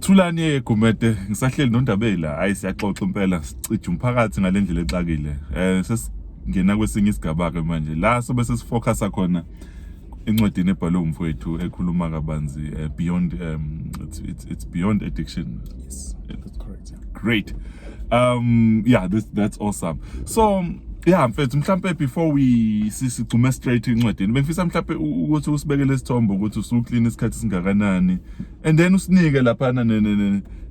Thulani ye Gumede ngisahleli nondabeli la ayi siyaxoxa impela sicija umphakathi ngalendlela exakile eh sesingena kwesinye isigaba ke manje la sobe sesifocus khona incwadini ebhalwe umfowethu ekhuluma kabanzi eh, beyond um, it's, it's, it's beyond addiction yes that's correct great um yeah this that's awesome so yeah mfethu mhlambe before we sigcume straight incwedini bengifisa mhlambe ukuthi usibekele isithombo ukuthi usuclean isikhathi singakanani and then usinike lapha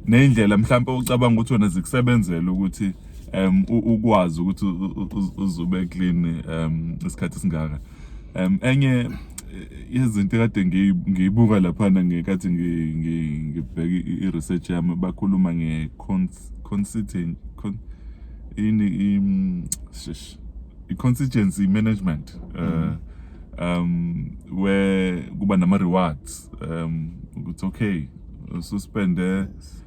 nendlela mhlambe ucabanga ukuthi wena zikusebenzela ukuthi um ukwazi ukuthi uzube clean um isikhathi singaka um enye izinto kade ngiyibuka laphana ngekathi ngibheke i-research yami bakhuluma nge-constituent ini i-constituency management uh, um where kuba nama-rewards um ukuthi okay ususpende yes.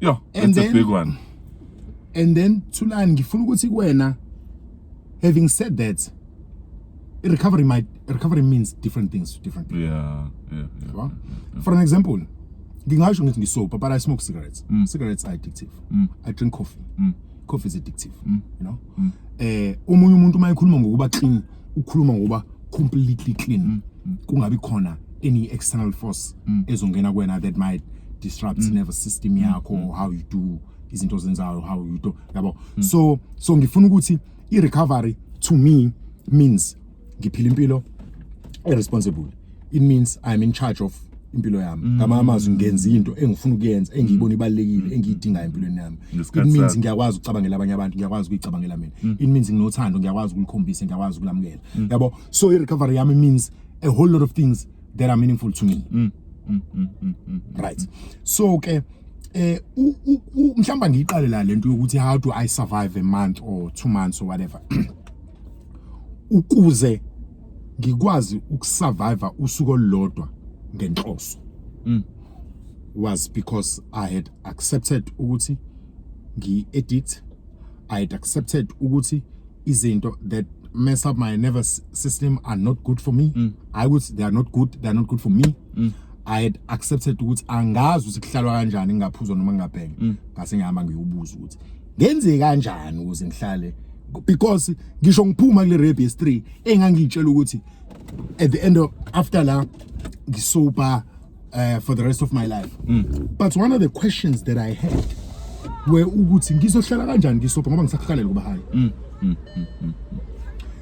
Yo, And that's a then- big one. and then thulani ngifuna ukuthi kuwena having said that recovery might recovery means different things to different people Yeah, yeah, yeah. yabo? for an example ngingasho ngithi ngisober but i smoke cigarettes Mm. cigarettes are addictive i drink coffee coffee is addictive you know eh omunye umuntu uma ekhuluma ngokuba clean ukhuluma ngoba completely clean mm, mm. kungabi khona any external force mm. ezongena kwena that might disrupt mm. nervous system mm, yakho mm. how you do izinto zenzayo how you do yabo mm. so so ngifuna ukuthi i recovery to me means ngiphila impilo irresponsible it means i'm in charge of impilo yami mm. ngama amazwi ngenza into engifuna ukuyenza engiyibona ibalekile mm. engiyidinga empilweni yami it means ngiyakwazi ukucabangela abanye abantu ngiyakwazi ukuyicabangela mina mm. it means nginothando ngiyakwazi ukulikhombisa ngiyakwazi ukulamukela yabo so i recovery yami means a whole lot of things that are meaningful to me right so ke eh mhlamba ngiyiqale la lento yokuthi how do i survive a month or two months or whatever ukuze ngikwazi ukusurvive usuku olulodwa ngenhloso mm. was because i had accepted ukuthi ngi edit i had accepted ukuthi izinto that mess up my nervous system are not good for me mm. i would they are not good they are not good for me mm. i had accepted ukuthi angazi ukuthi kuhlalwa kanjani ngingaphuzwa noma ngingabhenge mm. ngase ngihamba ngiyobuza ukuthi ngenze kanjani ukuze ngihlale because ngisho ngiphuma kule rap yes 3 engangitshela ukuthi at the end of after la ngisober uh, for the rest of my life mm. but one of the questions that i had we ukuthi ngizohlala kanjani ngisober ngoba ngisakhalele kuba hayi mm. mm, mm, mm, mm.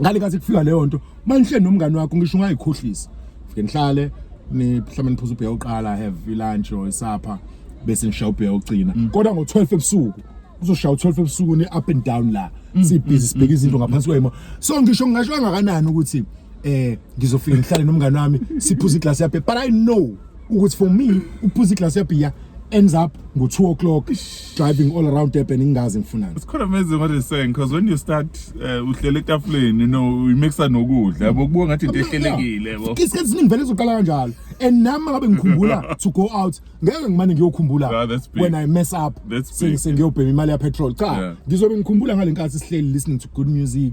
ngale kathi kufika leyo nto manihleli nomngane wakho ngisho ungayikhohlisi fike nihlale mhlawumbe niphuza ubheya uqala have ilunch or isapha bese ngisha ubheya ucina mm. kodwa ngo-12 ebusuku uzoshaya u-12 ebusuku ne-up and down la mm. sibhizi mm. sibheke izinto ngaphansi kwemo so ngisho ngingasho kangakanani ukuthi eh ngizofika ngihlale nomngane wami siphuza iglasi yaphe but i know ukuthi for me ukuphuza iglass yabhiya ends up ngo 2 o'clock driving all around Durban ngingazi ngifunani It's quite amazing what he's saying because when you start uh, uhlele etafuleni you know you mixa nokudla yabo kubuka ngathi into ehlelekile yabo Isikhathi esiningi vele izoqala kanjalo and nami ngabe ngikhumbula to go out ngeke ngimane ngiyokhumbula Ah, that's big. when I mess up That's big. sengiyobhema imali ya petrol cha Yeah. ngizobe ngikhumbula ngalenkathi sihleli listening to good music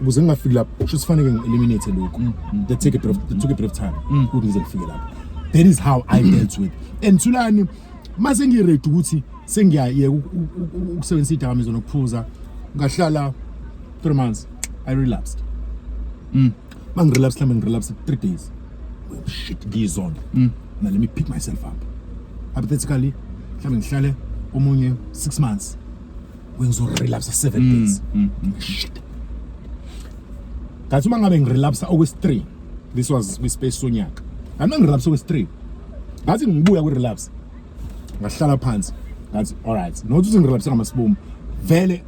ukuze ngingafiki lapho kusho sifanele ngi-eliminate lokhu mm, mm, that take a bit of, that took a bit of time mm. ukuthi ngize ngifike lapho that is how i dealt with and thulani uma sengiready ukuthi sengiyayeka ukusebenzisa idakamizwa nokuphuza ngahlala three months i relapsed mm. ma ngirelapse mhlawumbe ngirelapse three days well, shit ngiyizona mm. na let me pick myself up hypothetically mhlawumbe ngihlale omunye six months ngizorelapsa seven mm, days mm, mm. shit ngathi uma ngabe ngirelapsa okwesi-3 this was kwispace sonyaka ngathi uma ngirelapsa okwesi-3 ngathi ngibuya kwi-relapse ngahlala phansi ngathi alright nokuthi ukuthi ngirelapse ngamasibomu vele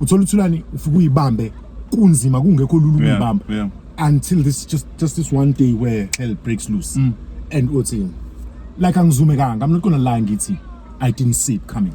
uthola uthulani ufike uyibambe kunzima kungekho lula ukuyibamba until this just just this one day where hell breaks loose mm. and uthi like angizumekanga i'm not gonna lie ngithi i didn't see it coming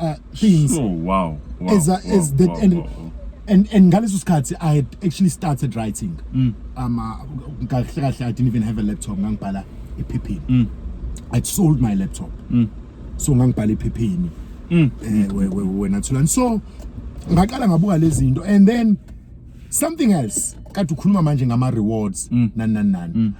uh, things so, wow, wow, as, wow, as that wow, and, wow, wow. and and ngaleso sikhathi i had actually started writing mm. um uh, kahle kahle i didn't even have a laptop ngangibhala ephepheni mm. i sold my laptop mm. so ngangibhala ephepheni mm. eh we we wena thulani so ngaqala ngabuka lezi zinto and then something else kade ukhuluma manje ngama rewards mm. nani nani nani mm.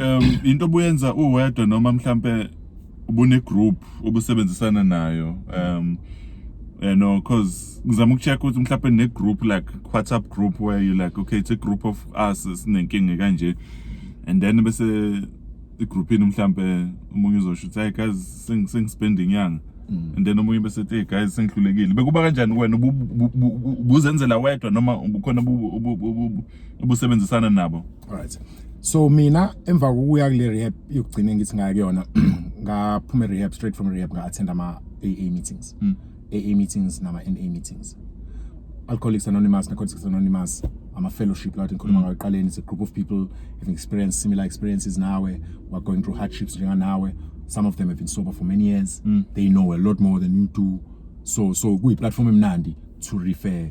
um into obuyenza uwedwa noma mhlampe ubune group obusebenzisana nayo um you know cause ngizama ukucheck ukuthi mhlawumbe ne group like WhatsApp group where you like okay it's a group of us sinenkinga kanje and then bese i group ini mhlawumbe umunye uzosho ukuthi hey guys sing sing spending yang mm. and then omunye bese ethi hey guys sengihlulekile bekuba kanjani wena ubuzenzela wedwa noma ubukhona ubusebenzisana nabo alright so mina emva kokuya kule rehab yokugcina ngithi ngaya kuyona ngaphuma rehab straight from rehab nga attend ama AA meetings mm. AA meetings nama NA meetings Alcoholics Anonymous Narcotics Anonymous ama fellowship lathi ngikhuluma mm. ngayo eqaleni it's a group of people having experienced similar experiences nawe were going through hardships njenga nawe some of them have been sober for many years mm. they know a lot more than you do so so kuyi platform emnandi to refer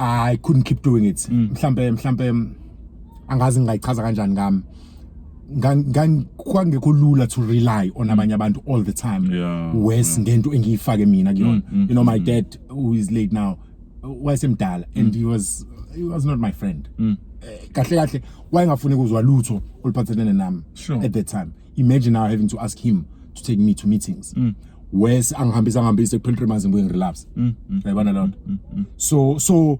I couldn't keep doing it. Mm. Mhlambe mhlambe angazi ngayichaza kanjani ngami. ngangikho lula to rely on abanye abantu all the time yeah, worse yeah. ngento engiyifake mina kuyona mm, mm, you know my mm. dad who is late now wayesemdala mm. and he was he was not my friend mm. Eh, kahle kahle wayengafuni kuzwa lutho oluphathelene nami sure. at that time imagine now having to ask him to take me to meetings mm. wes angihambisa ngihambise kuphela three months ngibuye ngirelapse mm, mm, yayibona mm, loo nto mm, mm, so so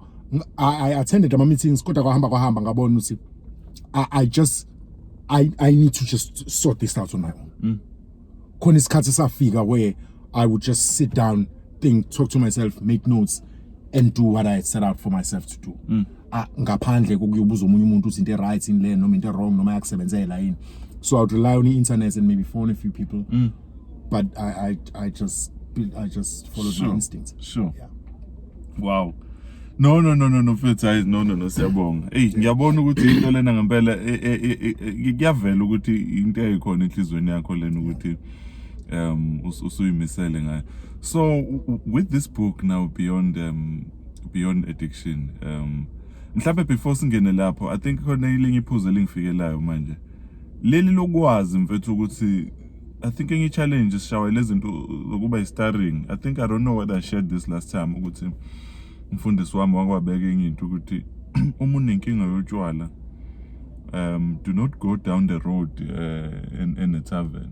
I, i attended ama-meetings kodwa kwahamba kwahamba ngabona ukuthi I, i just I, i need to just sort this out on my own mm. khona isikhathi safika where i would just sit down think talk to myself make notes and do what i had set out for myself to do mm. ngaphandle kokuyobuza omunye umuntu uthi into right in le noma into wrong noma yakusebenzela yini so i would rely on internet and maybe phone a few people mm. but i i i just i just followed sure. my instincts sure yeah. wow no no no no no mfethu hayi no no no siyabonga hey ngiyabona ukuthi into lena ngempela e, e, e, kuyavela ukuthi into eyikhona enhlizweni yakho lena ukuthi um usuyimisele ngayo so with this book now beyond um beyond addiction um mhlawumbe before singene lapho i think khona ilinye iphuzu elingifikelayo manje leli lokwazi mfethu ukuthi i think enye challenge sishawa lezinto zokuba i-starring i think i don't know whether i shared this last time ukuthi umfundisi wami wakwabeka enye into ukuthi uma unenkinga yotshwala um do not go down the road uh, in, in a tavern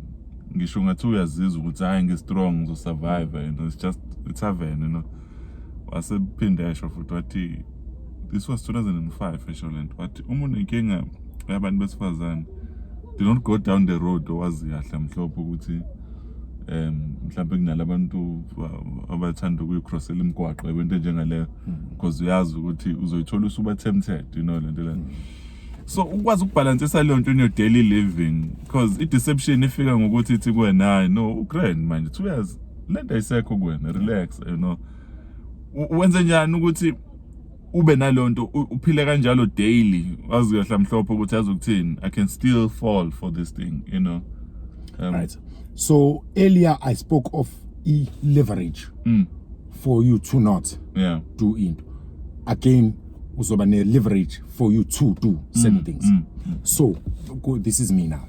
ngisho ngathi uyazizwa ukuthi hayi ngi-strong ngizosurvive you know it's just a tavern you know wasephinde esho futhi wathi this was 2005 esho lento wathi uma unenkinga yabantu besifazane do not go down the road owazi kahle mhlophe ukuthi um mhlawumbe kunalabantu abathanda ukuyicrossela imigwaqo ebento njengaleyo mm-hmm. because uyazi ukuthi uzoyithola usuba tempted you know lento lento mm-hmm. so ukwazi ukubhalansisa leyo nto in your daily living because i-deception ifika ngokuthi ithi kuwena hayi no ugrand manje two years lento ayisekho kuwena relax you know wenze njani ukuthi ube nalonto uphile kanjalo daily wazi kahle amhlophe ukuthi azokuthini i can still fall for this thing you know um, right so earlier i spoke of e leverage mm. for you to not yeah. do into again uzoba ne leverage for you to do certain mm, things mm, mm. so this is me now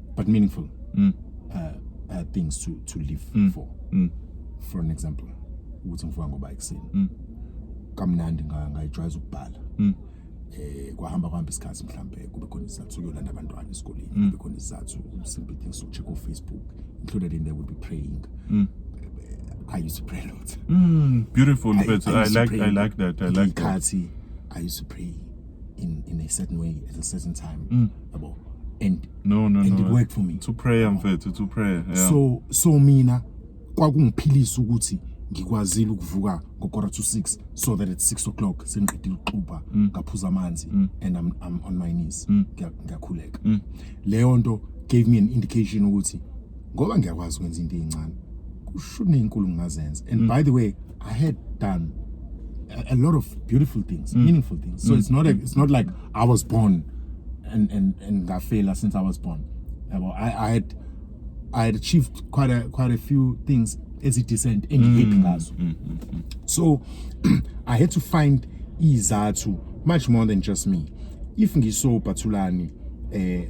but meaningful mm. uh, uh, things to, to live mm. for mm. for an example ukuthi ngivuka ngoba ekuseni mm. kamnandi ngayijwayeza ukubhala mm. eh kwahamba kwahamba isikhathi mhlambe kube khona isizathu sokuyolanda abantwana esikoleni mm. kube khona isizathu simple things so check on Facebook included in there would be praying mm. I used to pray a lot. Mm, beautiful, I, I, I like I like that. I like that. I used to pray. in in a certain way at a certain time mm. yabo and no no and no, it worked for me to pray mfethu to pray yeah. so so mina kwakungiphilisa ukuthi ngikwazile ukuvuka ngokora to 6 so that at 6 o'clock sengiqedile ukuxuba mm. ngaphuza amanzi mm. and I'm, I'm on my knees mm. ngiyakhuleka leyo nto gave me an indication ukuthi ngoba ngiyakwazi ukwenza into ezincane kushuni inkulu ngingazenza and mm. by the way i had done a, a lot of beautiful things mm. meaningful things so mm. it's not a, it's not like i was born and and and ngafela since i was born yabo i i had i had achieved quite a quite a few things as it descent engihappy mm. ngazo mm, mm, mm. so i had to find izathu much more than just me if ngisobhathulani eh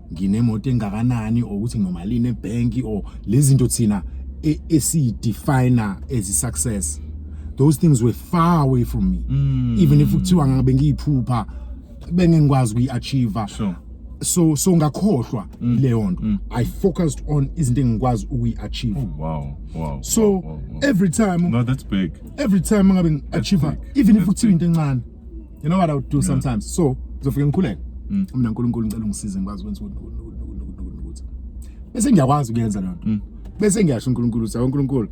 nginemoto engakanani or ukuthi nginomalini ebhenki or lezi zinto thina e, esiyidefiner as i-success those things were far away from me mm. even if kuthiwa ngabe ngiyiphupha bengengikwazi ukuyi-achieve sure. so so ngakhohlwa mm. leyo nto mm. i focused on izinto engikwazi ukuyi-achieve oh, wow, wow, so wow, wow, wow. every time no, that's big. every time ngabe ngi-achieve even that's if kuthiwa into encane you know what i would do sometimes so ngizofike ngikhuleke mm. mina uNkulunkulu ngicela ungisize ngikwazi ukwenza ukuthi bese ngiyakwazi ukuyenza lento mm. bese ngiyasho uNkulunkulu ukuthi uNkulunkulu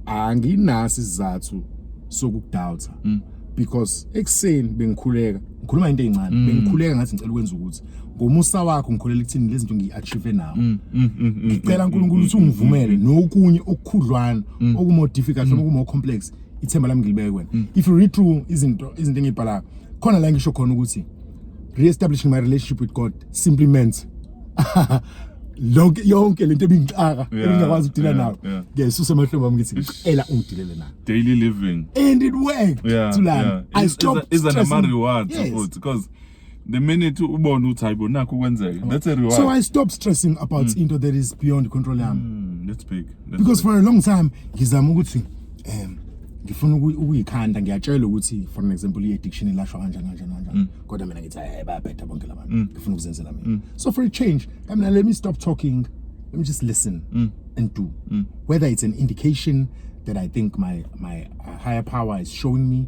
anginasi izathu sokudoubt mm. because ekuseni bengikhuleka ngikhuluma into ezincane mm. bengikhuleka ngathi ngicela ukwenza ukuthi ngomusa wakho ngikholela ekuthini lezi zinto ngiyi-achieve nawo mm, mm, ngicela uNkulunkulu ukuthi ungivumele nokunye okukhudlwana okumore difficult noma kumore complex ithemba lami ngilibeke kuwena mm. if you read through izinto izinto engibhalayo khona la ngisho khona ukuthi re-establishing my relationship with god simply meant lonke yonke lento ebingixaka ebingakwazi ukudila nayo ngiyayisusa emahlombe ami ngithi ngicela ungidilele nayo daily living and it worked yeah, to like yeah. i stopped is an amari word yes. because the minute ubona ukuthi hayibo nakho kwenzeka that's a reward so i stop stressing about mm. into that is beyond control yami mm, that's big that's because big. for a long time ngizama ukuthi um ngifuna ukuyikhanda ngiyatshelwa ukuthi for an example i-addiction ilashwa kanjani kanjani kanjani mm. kodwa mina ngithi hayi bayabheda bonke la bantu mm. ngifuna ukuzenzela mina mm. so for a change i mean let me stop talking let me just listen mm. and do mm. whether it's an indication that i think my my uh, higher power is showing me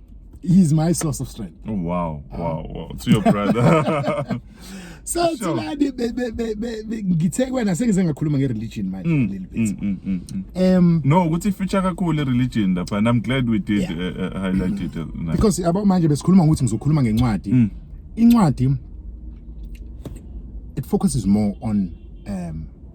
he's my source of strength oh, wow ah. wow wow to your brother so thina ngithe kwena sengize ngakhuluma nge-religion manje mm, little bit mm, mm, um no ukuthi feature kakhulu i-religion lapha and i'm glad we did uh, uh, highlight it uh, because abo manje besikhuluma ngokuthi ngizokhuluma ngencwadi incwadi it focuses more on um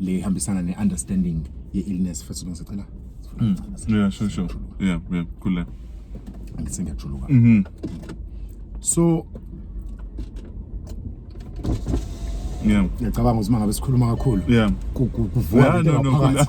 le hambisana ne understanding ye illness first long sicela mm. yeah sure sure yeah yeah khule ngithe ngiyajuluka mhm so yeah ngiyacabanga ukuthi mangabe sikhuluma kakhulu yeah kuvuka phakathi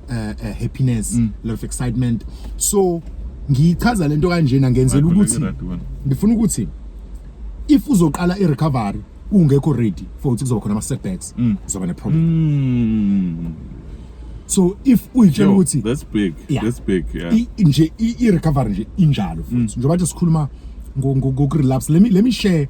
uh, uh, happiness mm. lot of excitement so ngichaza lento kanjena ngenzela ukuthi ngifuna ukuthi if uzoqala i recovery ungekho ready for ukuthi kuzoba khona ama setbacks mm. uzoba ne problem mm. so if uyitshela ukuthi that's big yeah. that's big yeah nje i recovery nje injalo futhi mm. njengoba sikhuluma ngokurelapse let me let me share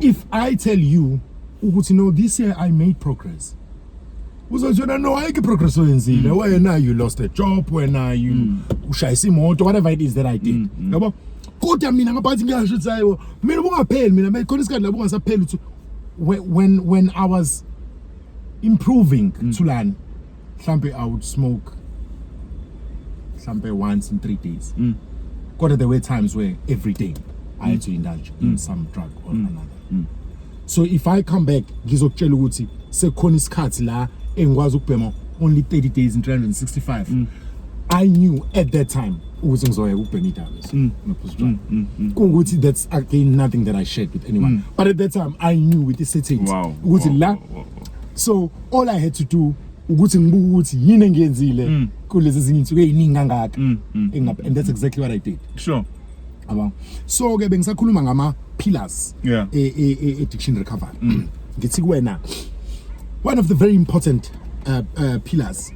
if i tell you ukuthi no this year i made progress uzotshona no ayikho progress oyenzile mm. wena you lost a job wena you mm. ushayisa imoto whatever it is that i did mm, mm. yabo kodwa mina ngaphakathi ngiyasho ukuthi hayibo mina ubungapheli mina mayikhona isikhathi lapho ungasapheli ukuthi when when i was improving mm. thulani mhlampe i would smoke mhlampe once in 3 days mm. kodwa there were times where every day i had mm. to indulge in mm. some drug or mm. another mm. so if i come back ngizokutshela ukuthi sekukhona isikhathi la engikwazi ukubhema only 30 days in 365 mm. i knew at that time ukuthi ngizoyeka ukubhema idames mm. nophuza mm, mm, mm. kungukuthi that's again nothing that i shared with anyone mm. but at that time i knew with the settings ukuthi wow, la wow, wow. so all i had to do ukuthi ngibuke ukuthi yini engiyenzile mm. kulezi zinye insuku eziningi kangaka mm, mm. engapha and that's exactly what i did sure yabo so ke bengisakhuluma ngama pillars yeah. e, e, e, addiction recovery mm. ngithi kuwena one of the very important uh, uh, pillars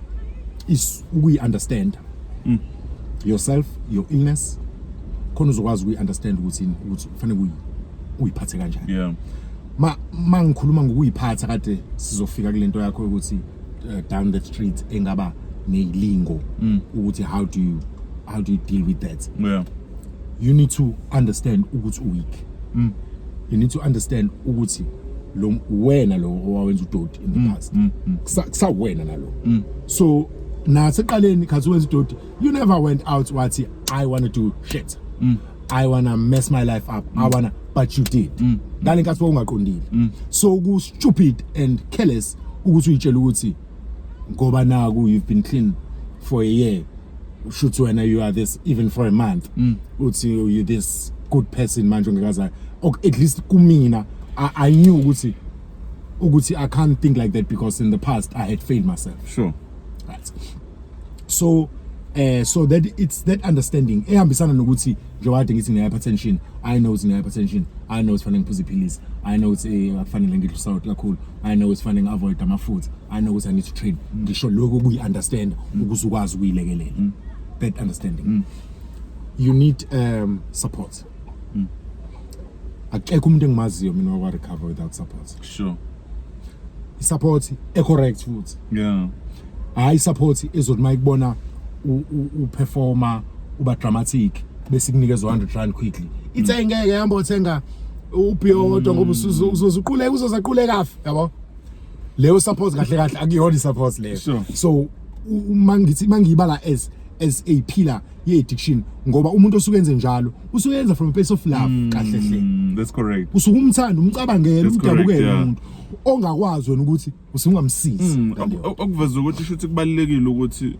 is ukuyi understand mm. yourself your illness khona uzokwazi ukuyi understand ukuthi ukuthi ufanele uyiphathe kanjani yeah ma mangikhuluma ngokuyiphatha kade sizofika kulento yakho ukuthi uh, down the street engaba neyilingo mm. ukuthi how do you how do you deal with that yeah you need to understand ukuthi uweak mm. you need to understand ukuthi lo wena lo owawenza udoti in the mm, past mm, mm. kusa wena nalo mm. so naseqaleni khathi wenza udoti you never went out wathi i want to do shit mm. i wanna mess my life up mm. i wanna but you did mm. ngale nkathi wawungaqondile mm. so ku stupid and careless ukuthi uyitshela ukuthi ngoba naku you've been clean for a year shuthi wena you are this even for a month mm. uthi you this good person manje ongekazayo at least kumina I, i knew ukuthi ukuthi i can't think like that because in the past i had failed myself sure right so eh so that it's that understanding ehambisana nokuthi njengoba kade ngithi ngine hypertension i know it's ngine hypertension i know sifanele ngiphuze iphilisi i know it's eh, akufanele ngidle salt kakhulu i know sifanele ngiavoid amafutha i know ukuthi i need to train ngisho lokho kuyi understand ukuze ukwazi ukuyilekelela mm. that understanding mm. you need um support mm. akekho umuntu engimaziyo mina wakwa recover without support sure support e correct futhi yeah hayi support ezothi mayikubona u performer uba dramatic bese kunikeza 100 rand quickly ithe mm. ngeke hamba othenga ubhiyodo ngoba mm. uzozuquleka uzozaquleka afi yabo leyo support kahle kahle akuyona support leyo so uma ngithi mangiyibala as as a pillar ye addiction ngoba umuntu osuke enze njalo usuke yenza from a place of love mm, kahle hle mm, that's correct usuke umthanda umcabangela umdabukele umuntu ongakwazi wena ukuthi usungamsizi mm, okuveza ukuthi shuthi kubalekile ukuthi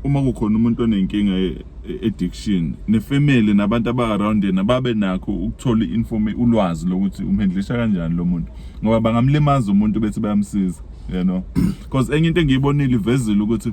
uma kukhona umuntu onenkinga e, e, addiction nefamily nabantu aba around yena babe nakho ukuthola informe ulwazi lokuthi umhendlisha kanjani lo muntu ngoba bangamlimaza umuntu bethi bayamsiza you know because enye into engiyibonile ivezile ukuthi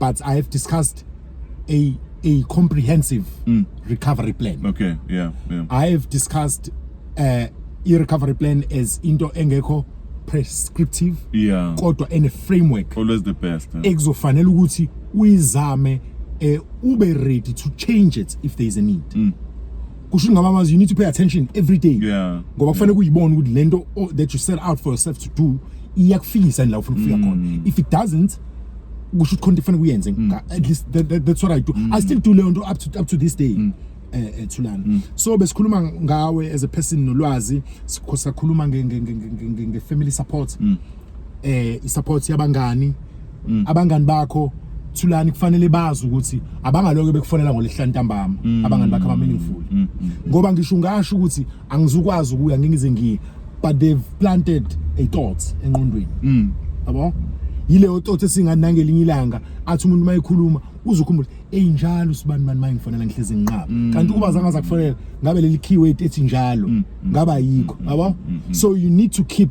but i have discussed a a comprehensive mm. recovery plan okay yeah, yeah. i have discussed uh, i-recovery plan as into engekho prescriptive yeah. kodwa ene framework always the best eh? ekuzofanele ukuthi uyizame eh ube ready to change it if there is a need mm. kusho ngaba manje you need to pay attention every day yeah. ngoba kufanele yeah. kuyibona ukuthi lento oh, that you set out for yourself to do iyakufikisa la ufuna ukufika khona mm. if it doesn't kusho ukuthi khona kufanele kuyenze mm. at least that, that, that's what i do mm. i still do leyo nto up to, up to this day mm. eh, eh Thulani mm. so besikhuluma ngawe as a person nolwazi sikhosakhuluma nge nge nge nge nge family support mm. eh support yabangani mm. abangani bakho Thulani kufanele bazi ukuthi abangaloke bekufonela ngolehla ntambama mm. abangani bakho aba meaningful mm. mm. ngoba ngisho ngasho ukuthi angizukwazi ukuya ngingize ngiye but they've planted a thought enqondweni mm. yabo yileyo thought esinganangelinye ilanga athi umuntu mayikhuluma uzukhumbula enjalo sibani mani mayingifanele ngihlezi nginqaba mm. kanti ukuba zangaza kufanele ngabe leli keyword ethi njalo mm. ngaba yikho yabo so you need to keep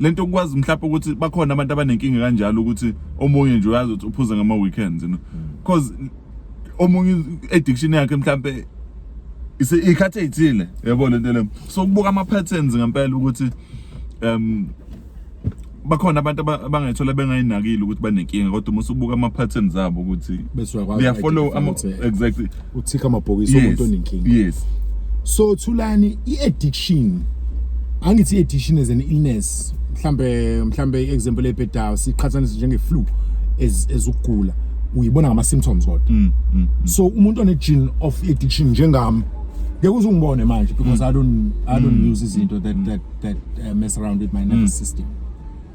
lento ukwazi mhlawumbe ukuthi bakhona abantu abanenkinga kanjalo ukuthi omunye nje uyazi ukuthi uphuza ngama weekends you know because omunye addiction yakhe mhlawumbe ise ikhathe ithile yabo lento le so kubuka ama patterns ngempela ukuthi um bakhona abantu aba- abangayithola bengayinakile ukuthi banenkinga kodwa uma usubuka ama patterns abo ukuthi Bese uyakwazi they are follow uku-identify ama ukuthi- exactly uthika amabhokisi umuntu onenkinga yes so thulani i-addiction angithi i-addiction as an illness mhlambe mhlambe i-example ebhedayo siqhathanise njenge-flu ezukugula uyibona ngama-symptoms kodwa mm, mm, mm. so umuntu one-gene of addiction njengami ngeke uze ungibone manje because mm. I don't, I don't mm. use izinto that, that, that uh, mess around with my nervous mm. system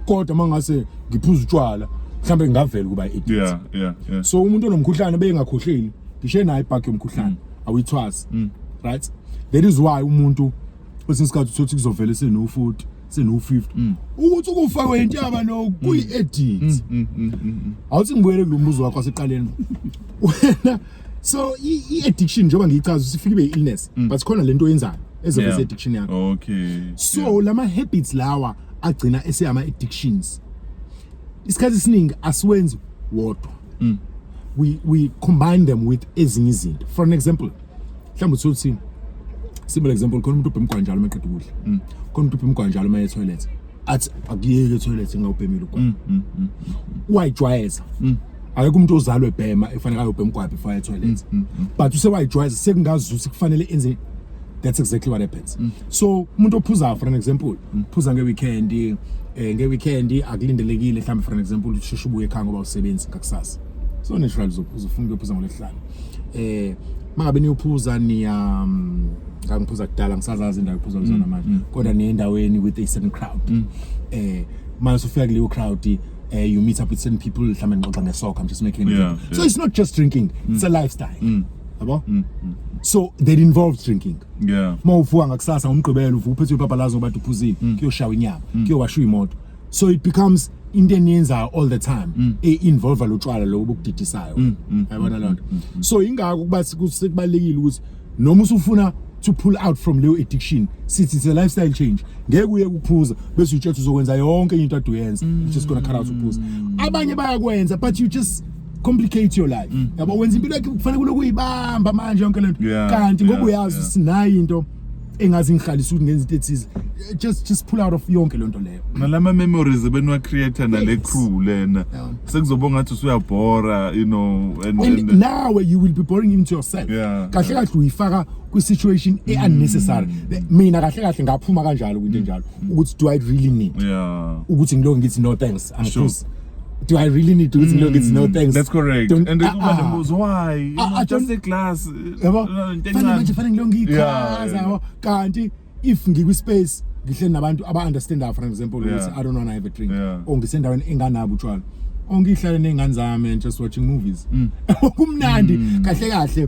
kodwa mangase ngiphuza utshwala mhlambe ngavela kuba edit yeah yeah yeah so umuntu onomkhuhlane beyengakhohleli ngishe naye ibhaki yomkhuhlane mm. awuyithwasi mm. right that is why umuntu kwesinye isikhathi uthothi kuzovela senofuthi seno-50 mm. ukuthi ukufa kwentaba no mm. kuyi-edit mm, awuthi ngibuyele kulo mbuzo wakho waseqaleni wena so i-addiction njengoba ngiyichaza sifike ibe i-illness but khona le nto oyenzayo ezoveza i-addiction yakho okay so lama-habits lawa agcina eseyama addictions isikhathi esiningi asiwenzi wodwa mm. we we combine them with ezinye izinto for an example mhlawumbe uthuthi simple example khona umuntu ubhema njalo maqeda ukudla mm. khona umuntu ubhema njalo maye toilet athi akuyeke toilet ngawubhemile ukwa mm, mm, mm, wayijwayeza akekho umuntu ozalwe ebhema efanele ayobhema kwaphi fire toilet but usewayijwayeza sekungazuthi kufanele enze that's exactly what happens mm. so umuntu ophuzayo for an example mm. phuza ngeweekend eh ngeweekend akulindelekile mhlawumbe for an example usheshe ubuye ekhaya ngoba usebenzi kakusasa so natural uzophuza ufuna ukuphuza ngolesihlanu eh mangabe niyophuza niya um, ngangiphuza kudala ngisazazi indawo iphuza kuzona mm, manje mm. kodwa niye endaweni with a certain crowd mm. eh manje sufika kuleyo crowd uh, you meet up with certain people mhlawumbe nixoxa ngesoccer i'm just making an example yeah, yeah. so it's not just drinking mm. it's a lifestyle mm. yabo mm, mm. so that involves drinking yeah uma uvuka ngakusasa umgqibelo uvuka uphethe ibhabha lazo bathi uphuzile mm. kuyoshawa inyama mm. kuyowashwa imoto so it becomes into eniyenzayo all the time mm. e-involva lo tshwala lobo bokudidisayo mm, mm, yabona loo nto so yingako ukuba sekubalulekile ukuthi noma usufuna to pull out from leyo addiction sithi it's a lifestyle change ngeke uye kuphuza bese utshetha uzokwenza yonke into ade uyenza just gonna cut out ukuphuza abanye bayakwenza but you just complicate your life mm. yabo wenza impilo yakhe kufanele kulokuyibamba manje yonke lento kanti ngoba uyazi sinayo into engazi ngihlalisa ukuthi ngenza into ethize just just pull out of yonke lento leyo nalama memories ebenwa creator nale crew lena sekuzoba ngathi usuyabhora you know and, and, and now you will be boring into yourself kahle kahle uyifaka kwi situation e unnecessary mm. mina kahle kahle ngaphuma kanjalo kwinto enjalo mm. ukuthi do i really need ukuthi ngiloko ngithi no thanks i'm sure. do I really need to? It's no, it's no thanks. That's correct. Don't- and then kuba ah, ah. nembuzo why You Ah, know, ah, just don't- a glass uh, yabo uh, into fanele manje encane. fanele ngilonge Yeah, ichaza yeah. yabo kanti if ngikwi-space ngihleli nabantu aba-understandayo for example Yeah. ukuthi i don't wanna have a drink Yeah. or ngisendaweni enganabo utshwala or ngihlale ney'ngane zami and just watching movies Mm. kumnandi kahle kahle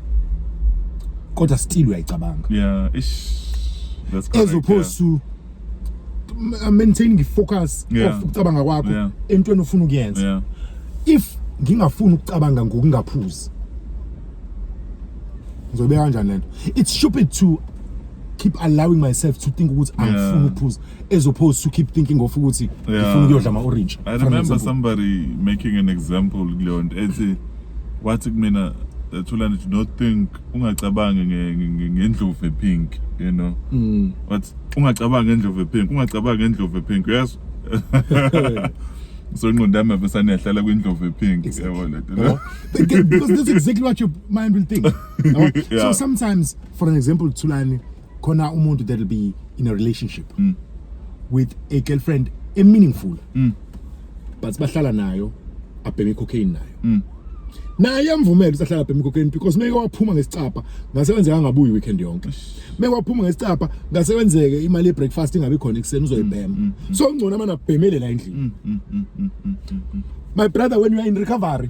kodwa still uyayicabanga yeah ish that's correct as opposed to uh, maintaining ifocus yeah. of ukucabanga kwakho yeah. entweni ofuna ukuyenza yeah. if ngingafuni ukucabanga ngokungaphuzi ngizobeka kanjani lento it's stupid to keep allowing myself to think ukuthi angifuni ukuphuza as opposed to keep thinking of ukuthi Yeah. ngifuna ukuyodla ama-orange I for an remember example. somebody making an example kuleyo nto ethi wathi kumina eh, Thulani do not think ungacabangi nge- nge- nge- ngendlovu epink you know Mm. wathi ungacabangi ngendlovu epink ungacabangi ngendlovu epink yes so ingqondo yami yabesaneyahlala kwindlovu epink Exactly. yabo le nto Yabo? Th- th- because that's exactly what your mind will think Yabo? Yeah. so sometimes for an example thulani khona umuntu that will be in a relationship mm. with a girlfriend a meaningful mm. but bahlala nayo abheme cocaine nayo mm. naye amvumela usahlala abheme cocaine because meke waphuma ngesicapha ngase kwenzeka ngabuyi weekend yonke meke waphuma ngesicapha ngase kwenzeke imali yebreakfast ingabe khona ekuseni uzoyibhema mm, mm, mm. so ngcono amana abhemele la endlini my brother when you are in recovery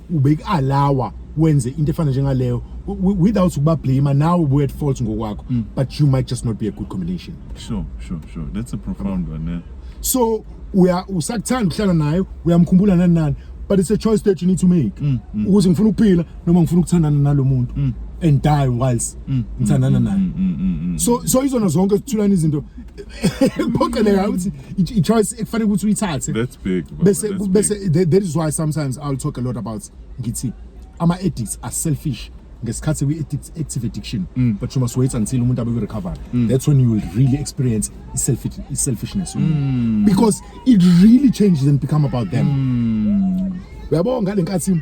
ubekualawa wenze into efana njengaleyo without ukuba blame nawe ubuye at fault ngokwakho mm. but you might just not be a good combination sure sure sure that's a profound one yeah. so uya usakuthanda ukuhlala naye uyamkhumbula nani nani but it's a choice that you need to make mm, mm. ukuthi ngifuna ukuphila noma ngifuna ukuthandana nalomuntu mm. and die whilst mm, mm, ngithandana mm, naye mm, mm, mm, mm. so so izona zonke sithulana izinto kuphoqeleka ukuthi i- i-choice ekufanele ukuthi uyithathe That's big. baba, bese that's big. bese that that is why sometimes i'll talk a lot about ngithi ama addicts are selfish ngesikhathi we addict active addiction Mm. but you must wait until umuntu abe recover that's when you will really experience self selfishness Mm. because it really changes and become about them uyabo ngalenkathi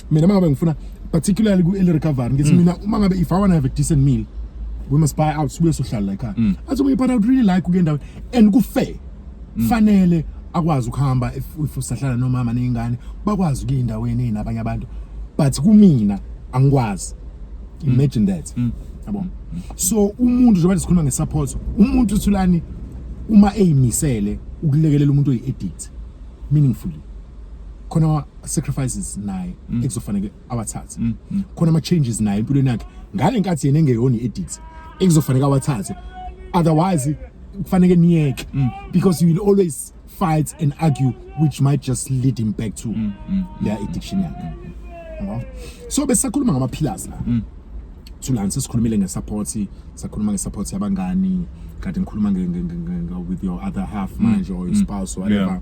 mina mangabe ngifuna particularly ku early recovery ngithi mm. mina uma ngabe if i want to have a decent meal we must buy out sibuye sohlala la ekhaya mm. athi omunye but i would really like ukuya endaweni and ku fair mm. fanele akwazi ukuhamba if if usahlala nomama nezingane bakwazi ukuya endaweni enabanye abantu but kumina angikwazi mm. imagine that mm. yabona so umuntu njengoba sikhuluma ngesupport umuntu uthulani uma eyimisele ukulekelela umuntu oyi-addict meaningfully khona sacrifices naye mm. ekuzofanele awathathe mm, mm. khona ama changes naye empilweni yakhe ngale nkathi yena engeyona edit ekuzofanele awathathe otherwise kufanele niyeke because you will always fight and argue which might just lead him back to their addiction yakhe so besakhuluma ngama pillars la thulani sesikhulumile ngesupport sakhuluma ngesupport yabangani kade ngikhuluma with your other half manje or your spouse or whatever yeah.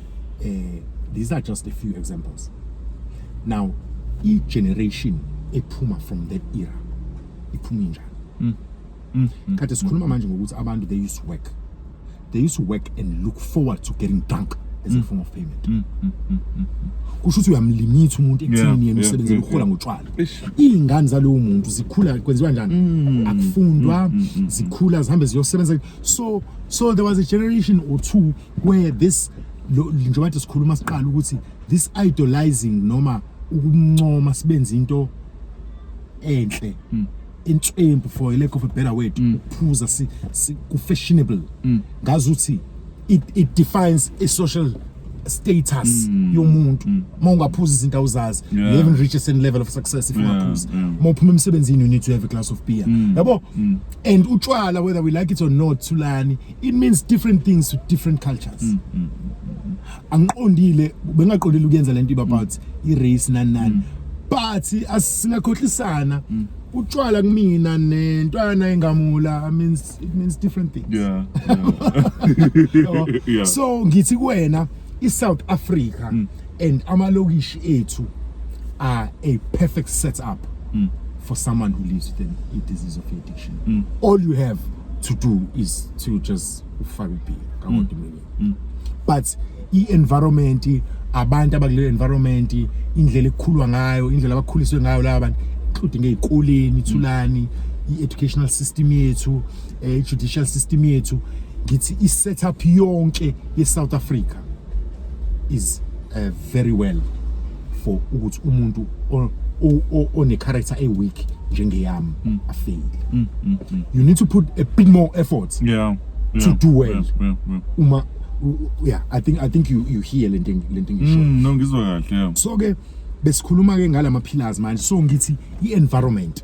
eh these are just a few examples now i generation ephuma from that era iphuma njani mm. mm. mm. kade sikhuluma manje ngokuthi abantu they used to work they used to work and look forward to getting drunk as a mm. form of payment mm, mm, mm, mm. kusho ukuthi uyamlimitha umuntu ekuthini yena usebenze ukuhola ngotshwala iy'ngane zalowo muntu zikhula kwenziwa njani mm, akufundwa mm, zikhula zihambe ziyosebenza so so there was a generation or two where this njengoba nje sikhuluma siqala ukuthi this idolizing noma ukumncoma sibenza into enhle hmm. intswembu for a lack of a better word hmm. ukuphuza si, si ku fashionable hmm. ngazi ukuthi it, it defines a social status mm. yomuntu mm. uma ungaphuza izinto awuzazi yeah. you haven't reached a certain level of success if ungaphuza yeah. yeah. uma uphuma emsebenzini you need to have a glass of beer mm. yabo mm. and utshwala whether we like it or not thulani it means different things to different cultures mm, mm, mm, mm. angiqondile bengaqondile ukuyenza lento about mm. i race nani nani mm. but asingakhohlisana mm. utshwala kumina nentwana engamula i means it means different things yeah, yeah. yeah. so ngithi kuwena i South Africa mm. and amalokishi ethu are a perfect setup mm. for someone who lives with a disease of addiction mm. all you have to do is to just ufake ubhiya kakodwa mm. mm. but i-environment abantu abakule environment indlela ekukhulwa ngayo indlela abakhuliswe ngayo laba bantu including ezikoleni ithulani i-educational system yethu eh, i-judicial system yethu ngithi i-setup yonke ye-south africa is uh, very well for ukuthi umuntu one-character e-weak njengeyami mm. afeyile mm, mm, you need to put a bit more effort yeah, yeah, to do well yeah, yeah, yeah. uma yeah i think i think you you hear le nting le nting isho mm, no ngizwa kahle yeah. so ke besikhuluma ke ngalama pillars manje so ngithi i environment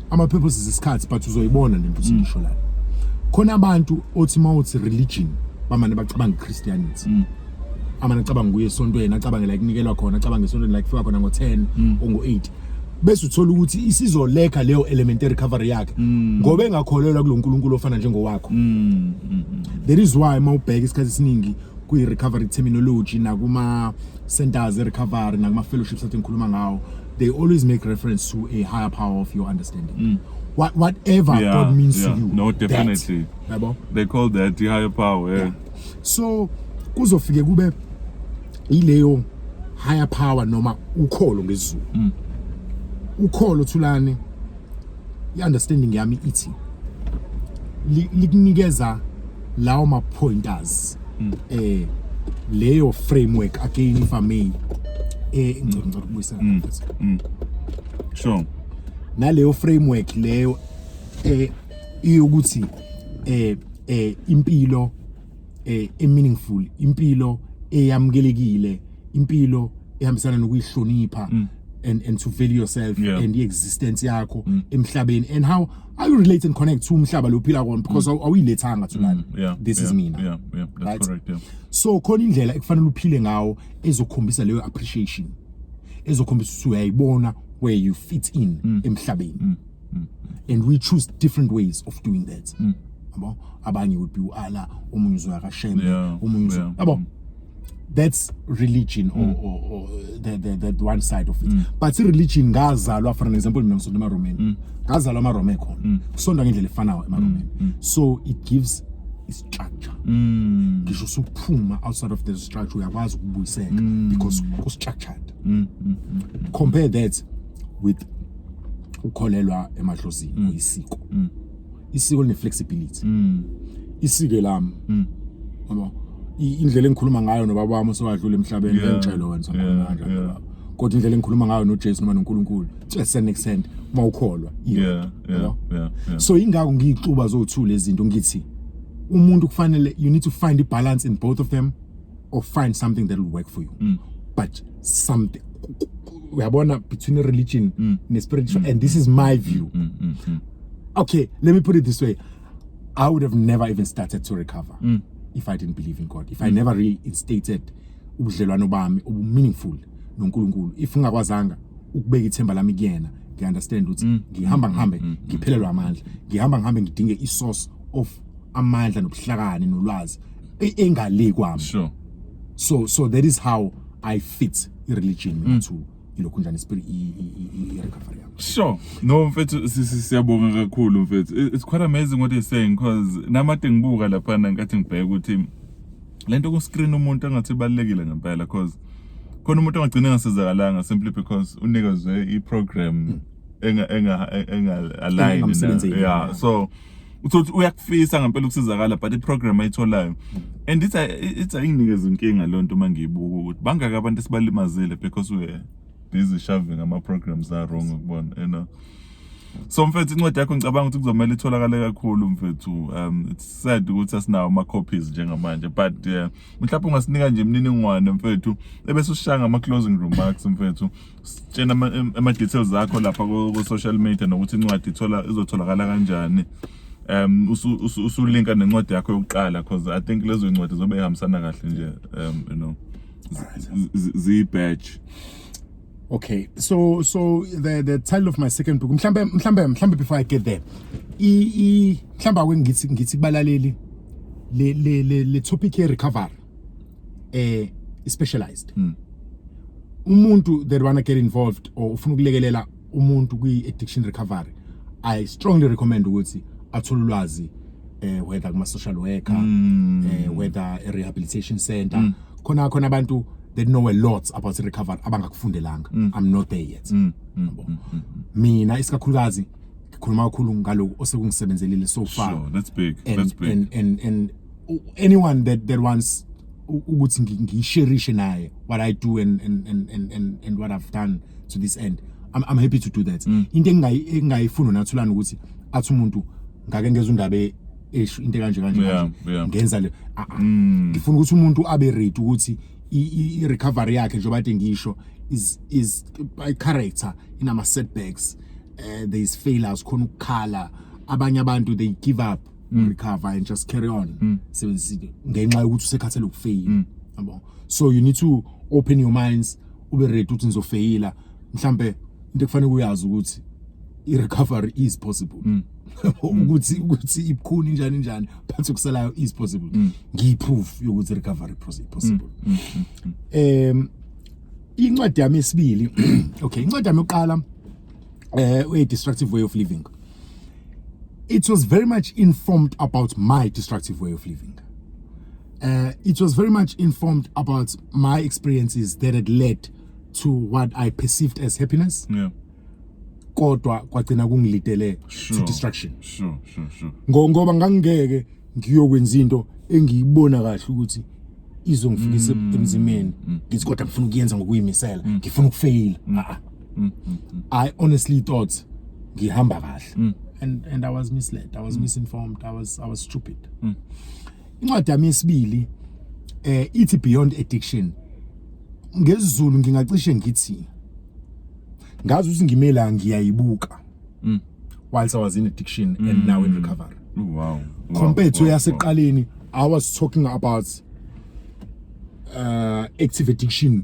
ama purposes isikhathi but uzoyibona lento mm. sisho la khona abantu othi mawuthi religion bamane bacabanga Christianity mm. amane acabanga kuye esontweni acabanga la kunikelwa khona acabanga esontweni la kufika khona ngo 10 mm. ongo 8 bese uthola ukuthi isizoleka leyo element recovery yakhe mm. ngoba engakholelwa kuloNkulunkulu ofana njengowakho mm, mm, that is why mawubheka isikhathi esiningi kwi recovery terminology nakuma centers recovery nakuma fellowships athi ngikhuluma ngawo they always make reference to a higher power of your understanding mm. what whatever yeah, god means yeah. to you no definitely yabo they call that the higher power yeah. yeah. so kuzofike kube ileyo higher power noma ukholo ngezulu mm. ukholo thulani i-understanding yami ithi likunikeza lawo ma-pointers um leyo framework again if i may eh ngicela ngicela ukubuyisela mm, mfethu mm. sure naleyo framework leyo eh iyokuthi eh eh impilo eh meaningful impilo eyamukelekile impilo ehambisana nokuyihlonipha mm. and and to value yourself yeah. and the existence yakho mm. emhlabeni and how how you relate and connect to umhlaba lophila kwona because mm. awuyilethanga to lana mm. yeah. this yeah. is mina yeah. Yeah. That's right? correct yeah. so khona indlela ekufanele uphile ngawo ezokhombisa leyo appreciation ezokhombisa ukuthi uyayibona where you fit in mm. emhlabeni mm. mm. and we choose different ways of doing that mm. yabo abanye would be uala omunye uzoya kashembe yeah. omunye yeah. yabo mm. that's religion or, mm. or, or the, the, the one side of it mm. but ireligion ngazalwa for an example mina ngisonda emaromeni mm. ngazalwa amaroma ekhona mm. kusonda ngendlela efanayo emaromeni mm. mm. so it gives istructure mm. ngisho usuphuma outside of the structure uyakwazi ukubuyiseka mm. because kustructured mm. mm. mm. compare that with ukukholelwa emahlosini mm. uyisiko mm. isiko line flexibility mm. isike lami mm. ngoba indlela engikhuluma ngayo nobaba wami osewadlula emhlabeni yeah. ngicelo wena sakhona yeah. kanjani yeah. kodwa indlela engikhuluma ngayo noJesu noma noNkulunkulu to a certain extent uma ukholwa yeah, yeah, yeah, yeah. so ingakho ngiyixuba zothula izinto ngithi umuntu kufanele you need to find a balance in both of them or find something that will work for you mm. but something uyabona between religion mm. ne spiritual mm. and this is my view mm, mm, mm. okay let me put it this way i would have never even started to recover mm. if i didn't believe in god if mm. i never reinstated ubudlelwano bami obu meaningful noNkulunkulu if ngingakwazanga ukubeka ithemba lami kuyena ngiunderstand ukuthi mm. ngihamba ngihambe mm, mm, ngiphelelwa amandla ngihamba ngihambe ngidinge isource of amandla nobuhlakani nolwazi e- engale kwami sure so so that is how i fit ireligion Mm. mina to ilokhu njani spirit i- i- i- i- recovery yami Sure. No mfethu si- si- siyabonga kakhulu mfethu. It- It's quite amazing what you're saying because namade ngibuka lapha ngenkathi ngibheka ukuthi lento ku screen umuntu angathi ibalekile ngempela because khona umuntu angagcina engasezakalanga simply because unikezwe i program enga enga enga align Engamsebenzeli, yeah yeah. so uthothi uyakufisa ngempela ukusizakala but iprogram ayitholayo and it's it's ayinginikeza inkinga lonto uma ngiyibuka ukuthi bangaka abantu esibalimazile because we busy shoving ama programs are wrong ukubona you know so mfethu incwadi yakho ngicabanga ukuthi kuzomela itholakale kakhulu mfethu um it's sad ukuthi asinawo ama copies njengamanje but uh, mhlawumbe ungasinika nje imininingwane mfethu ebese ushaya ngama closing remarks mfethu tshena ama-details akho lapha ku-social media nokuthi incwadi izotholakala kanjani um usulinka nencwadi yakho yokuqala because i think lezo ncwadi zobe ihambisana kahle nje um you know ziyi-badge okay so so the the title of my second book mhlambe mhlambe mhlambe before i get there i i mhlamba kwengithi ngithi kubalaleli le le le topic ye recovery eh specialized mm. umuntu that wanna get involved or ufuna ukulekelela umuntu kwi addiction recovery i strongly recommend ukuthi athole ulwazi eh whether kuma social worker mm. eh whether a rehabilitation center mm. khona khona abantu they know a lot about recovery abangakufundelanga mm. i'm not there yet mm. Mm. Mm. Mm. mm. mina isikakhulukazi ngikhuluma kakhulu ngaloku osekungisebenzelile so far sure, that's big and, that's big and and, and anyone that that wants ukuthi ngisherishe naye what i do and and and and and what i've done to this end i'm, I'm happy to do that mm. into engingayifuni nathulana ukuthi athi umuntu ngake ngeza undaba e, esho into kanje kanje ngenza le ah, ah. mm. ngifuna ukuthi umuntu abe ready ukuthi i recovery yakhe njengoba ade ngisho is is by character inama setbacks uh, there is failures khona ukukhala abanye abantu they give up mm. recover and just carry on mm. sebenzisa ngenxa yokuthi usekhathele ukufeyila mm. yabo so you need to open your minds ube ready ukuthi nizofeyila mhlambe into ekufanele uyazi ukuthi i recovery is possible mm. ukuthi ukuthi ibukhuni njani njani phansi kusalayo is possible mm. ngiyi proof yokuthi recovery possible mm. Mm. em incwadi yami esibili okay incwadi yami yokuqala uh, a destructive way of living it was very much informed about my destructive way of living uh, it was very much informed about my experiences that had led to what i perceived as happiness yeah kodwa kwagcina kungilidele sure, to destruction sure sure sure ngoba ngangeke ngiyokwenza into engiyibona kahle ukuthi izongifikisa mm. emzimeni mm. ngithi kodwa ngifuna ukuyenza ngokuyimisela mm. ngifuna ukufeyila mm, mm, mm. i honestly thought ngihamba kahle mm. and and i was misled i was mm. misinformed i was i was stupid mm. incwadi yami yesibili eh ithi beyond addiction ngezulu ngingacishe ngithi ngazi ukuthi ngimela ngiyayibuka mm. whilst i was in addiction mm. and now in recovery oh, wow compared to yaseqaleni i was talking about uh active addiction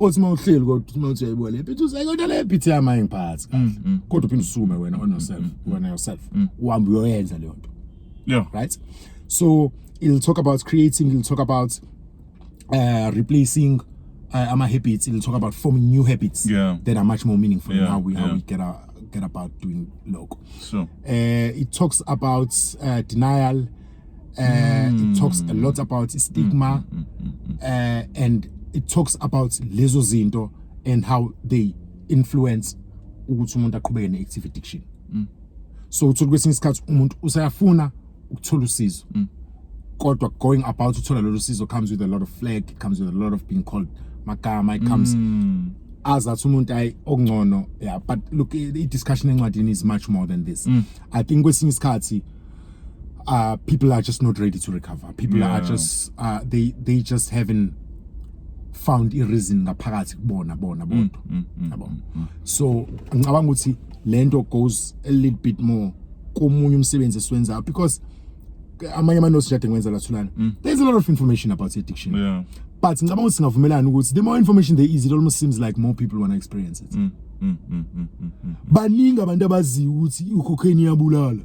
othi uma uhleli kodwa uthi uma uthi yayibuka le bhithi uze kodwa le bhithi yami ayingiphathi kahle mm. kodwa uphinde usukume wena on yourself mm, mm. wena yourself uhambe uyoyenza leyo nto yeah right so it'll talk about creating it'll talk about uh, replacing uh, ama habits it'll talk about forming new habits yeah. that are much more meaningful yeah. in how we yeah. how we get our get about doing loko so uh, it talks about uh, denial uh, mm. it hmm. talks a lot about stigma mm, mm, uh, and it talks about lezo zinto and how they influence ukuthi umuntu aqhubeke ne-active addiction mm. so uthola kwesinye isikhathi umuntu usayafuna ukuthola usizo mm. kodwa going about uthola lolu sizo comes with a lot of flag it comes with a lot of being called magama it comes mm. as athi umuntu ayi okungcono yeah but look i-discussion encwadini is much more than this mm. i think kwesinye isikhathi uh, people are just not ready to recover people yeah. are just uh, they they just haven't found i reason ngaphakathi kubona bona mm, bodwa mm, mm, yabo so ngicabanga ukuthi lento goes a little bit more komunye umsebenzi esiwenzayo because amanye ama notes jade ngwenza lathulana there's a lot of information about addiction yeah but ngicabanga ukuthi singavumelana ukuthi the more information there is it almost seems like more people want to experience it mm, mm, mm, mm, mm, mm. baningi abantu abaziyo ukuthi ucocaine iyabulala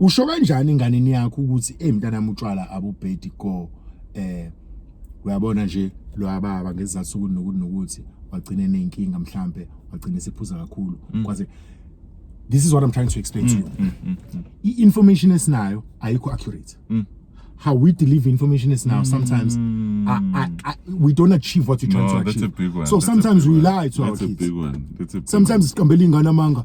usho kanjani enganeni yakho ukuthi hey mntana mutshwala abubhedi go eh uyabona nje lo ababa ngezizathu ukuthi nokuthi nokuthi wagcina nenkinga mhlambe wagcina esephuza kakhulu mm. kwaze this is what i'm trying to explain to mm, you mm, mm, mm. i information esinayo ayikho accurate mm. how we deliver information is now sometimes mm. I, I, I, we don't achieve what you're trying no, to achieve. That's a big one. So that's sometimes we lie to that's our kids. That's a big one. That's a big sometimes it's kambeli ngana manga.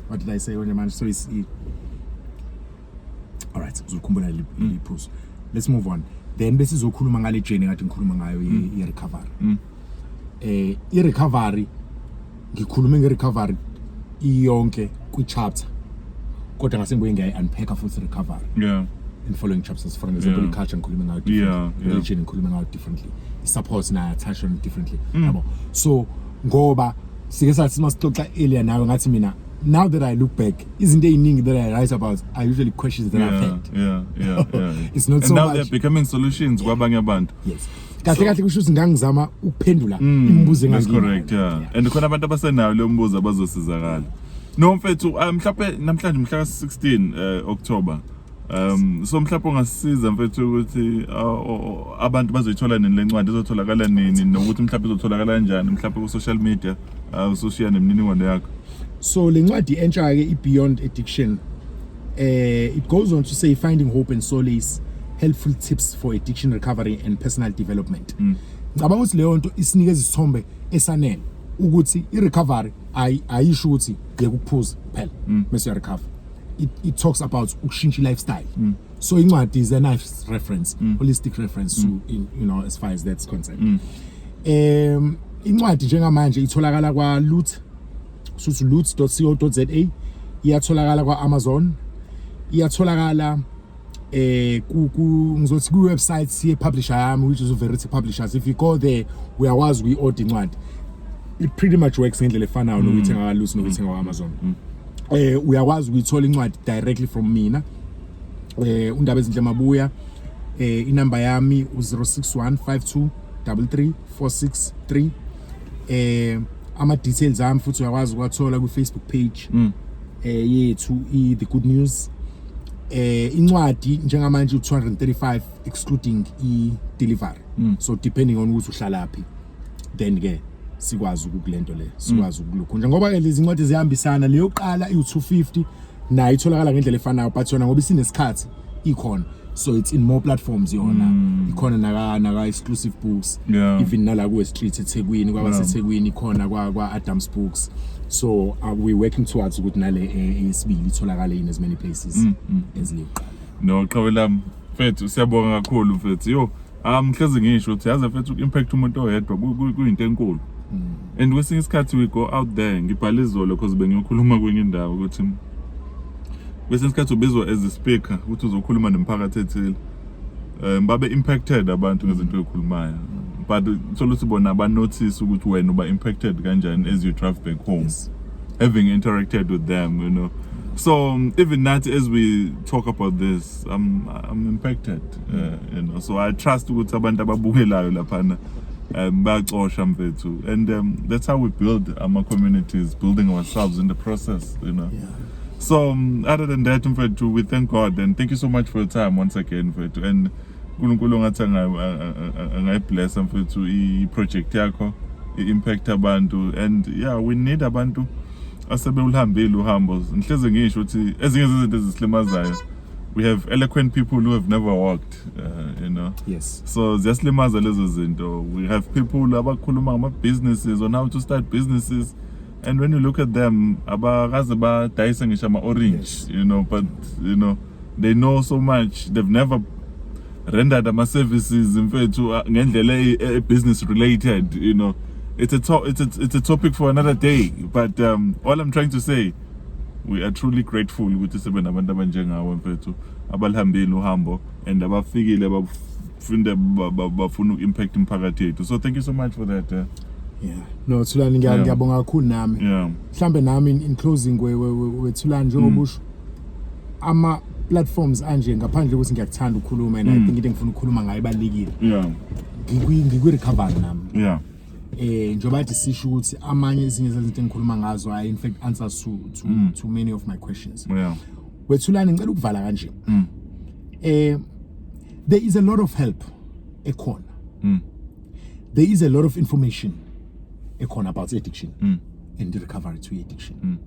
what did i say konje manje so is e all right uzokhumbula liphuzo mm. let's move on then bese sizokhuluma ngale journey ngathi ngikhuluma ngayo mm. ye recovery mm. eh i recovery ngikhulume nge recovery iyonke kwi chapter kodwa ngase ngibuye ngiyayi unpack futhi recovery yeah in following chapters for example yeah. culture ngikhuluma ngayo yeah, yeah. religion ngikhuluma ngayo differently support na attach on differently mm. yabo so ngoba sike sathi masixoxa earlier nawe ngathi mina now that I look back, isn't there anything that I write about? I usually questions that yeah, I've had. Yeah, yeah, yeah. it's not and so now much. they're becoming solutions yeah. kwabanye abantu. Yes. kahle kahle kusho ukuthi ngangizama ukuphendula mm, imibuzo engangiyona. That's correct, yeah. yeah. And khona abantu abasenayo leyo mbuzo abazosizakala. No mfethu ah, mhlawumbe namhlanje mhla ka 16 eh, October Um so mhlawumbe ungasisiza mfethu ukuthi uh, abantu bazoyithola nini le ncwadi izotholakala nini nokuthi mhlawumbe izotholakala kanjani mhlawumbe ku social media uh, usoshiya nemininingwane yakho. So le ncwadi entsha ke i Beyond Addiction uh, it goes on to say finding hope and solace helpful tips for addiction recovery and personal development. Mm. Ngicabanga ukuthi leyo nto isinikeza isithombe esanele ukuthi i recovery ayisho ukuthi yekuphuza phela mm. mase recover. it, it talks about ukushintsha lifestyle mm. so incwadi is a nice reference mm. holistic reference mm. to in, you know as far as that's concerned mm. um incwadi njengamanje itholakala kwa loot suthi loot.co.za iyatholakala kwa Amazon iyatholakala eh ku ngizothi ku website ye publisher yami which is Verity Publishers if you go there uyakwazi kuyi order incwadi it pretty much works ngendlela efanayo nokuthi mm. ngakalusi nokuthi ngawa Amazon mm. eh uyakwazi ukuyithola incwadi directly from mina eh undaba ezinhle mabuya eh inamba yami u0615233463 eh ama details ami futhi uyakwazi ukwathola ku Facebook page mm. eh yethu i the good news eh incwadi njengamanje u235 excluding i delivery mm. so depending on ukuthi uhlalaphi then ke sikwazi ukukulento le sikwazi mm. ukulukhunja ngoba ke lezi incwadi zihambisana leyo qala iu250 nayo itholakala ngendlela efanayo but yona ngoba isinesikhathi ikhona so it's in more platforms yona mm. ikhona naka naka exclusive books yeah. even nala kuwe street eThekwini kwaba yeah. seThekwini khona kwa kwa Adams Books so uh, we working towards ukuthi nale eh, esibili itholakale in as many places mm, mm. as liqala no qhawe lami mfethu siyabonga kakhulu mfethu yo um hlezi ngisho ukuthi yazi mfethu impact umuntu oyedwa kuyinto enkulu mm. and kwesinye isikhathi we go out there ngibhala izolo because bengiyokhuluma kwenye indawo ukuthi kwesinye isikhathi ubizwa as a speaker ukuthi uzokhuluma nomphakathi ethile um babe impacted abantu ngezinto ezikhulumayo but solo sibona ba notice ukuthi wena uba impacted kanjani as you drive back home yes. having interacted with them you know so um, even that as we talk about this i'm i'm impacted uh, you know so i trust ukuthi abantu ababukelayo laphana um bayacosha mfethu and um, that's how we build our communities building ourselves in the process you know yeah. so um, other than that mfethu we thank god and thank you so much for your time once again mfethu and unkulunkulu ongathi angayiblessa mfethu i-project yakho i-impact abantu and yeah we need abantu asebewuhambile uhambo ngihleze ngisho ukuthi ezinye zezinto ezisilimazayo we have eloquent people who have never walked uh, you know yes so ziyasilimaza lezo zinto we have people abakhuluma ngama-businesses on how to start businesses and when you look at them abakaze badayise ngisho ama-orange yes. you know but you know they know so much they've never rendered ama-services mfethu uh, ngendlela e, e, e-business related you know it's a, to it's, a, it's a topic for another day but um, all i'm trying to say we are truly grateful ukuthi sebe nabantu abanjengawe mfethu abalihambile uhambo and abafikile funda ba- ba- bafuna uku-impact imiphakathi yethu so thank you so much for that eh. yeah no thulani ngiya- Yeah. ngiyabonga kakhulu nami yeah mhlambe nami in, in closing we- we- we- wethulani njengoba usho ama platforms anje ngaphandle ukuthi ngiyakuthanda ukukhuluma and i think into engifuna ukukhuluma ngayo ibalulekile yeah Ngikwi- ngikwi-recovery nami yeah eh njengoba kade sisho ukuthi amanye ezinye zezinto engikhuluma ngazo are in fact answers to, to, to many of my questions yeah wethulani ngicela ukuvala kanje eh there is a lot of help ekhona mm. there is a lot of information ekhona about addiction mm. and recovery to addiction mm.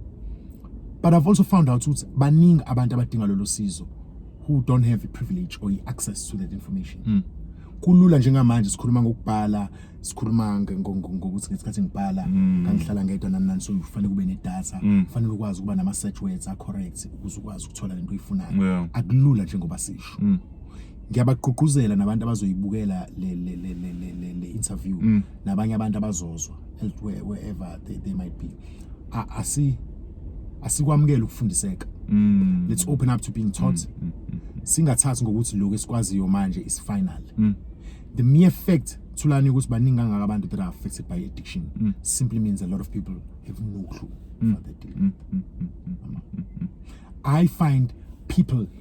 but i've also found out ukuthi baningi abantu abadinga lolu sizo who don't have the privilege or the access to that information mm. kulula njengamanje sikhuluma ngokubhala sikhuluma ngokuthi ngesikhathi ngibhala mm. ngangihlala ngedwa nani nani so kufanele kube nedata mm. kufanele ukwazi ukuba nama-search words a-correct ukuze ukwazi ukuthola lento oyifunayo akulula njengoba sisho mm. ngiyabagqugquzela nabantu abazoyibukela le le le le le, le, le interview mm. nabanye abantu abazozwa elsewhere wherever they, they might be asi asikwamukela ukufundiseka mm. let's open up to being taught mm. Mm. mm. singathathi ngokuthi lokho esikwaziyo manje is final mm. the mere fact thulani ukuthi baningi kangaka abantu that are affected by addiction mm. simply means a lot of people have no clue mm. what they're dealing mm. with mm. mm. mm. mm. i find people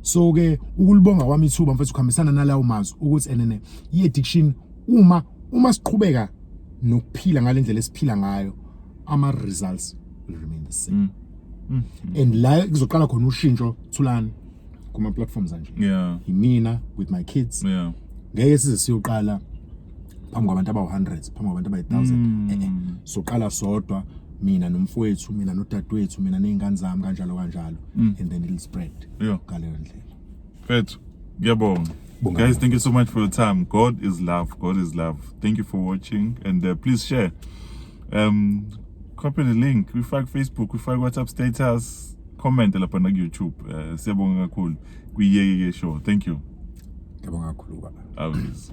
so ke ukulibonga kwami ithuba mfethu kuhambisana nalawo mazwi ukuthi enene i-addiction uma uma siqhubeka nokuphila ngalendlela esiphila ngayo ama results will remain the same mm. Mm. and la kuzoqala khona ushintsho thulani kuma platforms anje yeah imina with my kids yeah ngeke size siyoqala phambi kwabantu abawu hundreds phambi kwabantu abayi thousand mm. eh, eh. so qala sodwa mina nomfowethu mina nodadewethu mina nezingane zami kanjalo kanjalo mm. and then it'll spread ngaleyo ndlela mfethu ngiyabonga guys thank you so much for your time god is love god is love thank you for watching and uh, please share um copy the link we fuck facebook we fuck whatsapp status comment lapha na youtube uh, siyabonga kakhulu kwiyeke ke show thank you ngiyabonga kakhulu baba always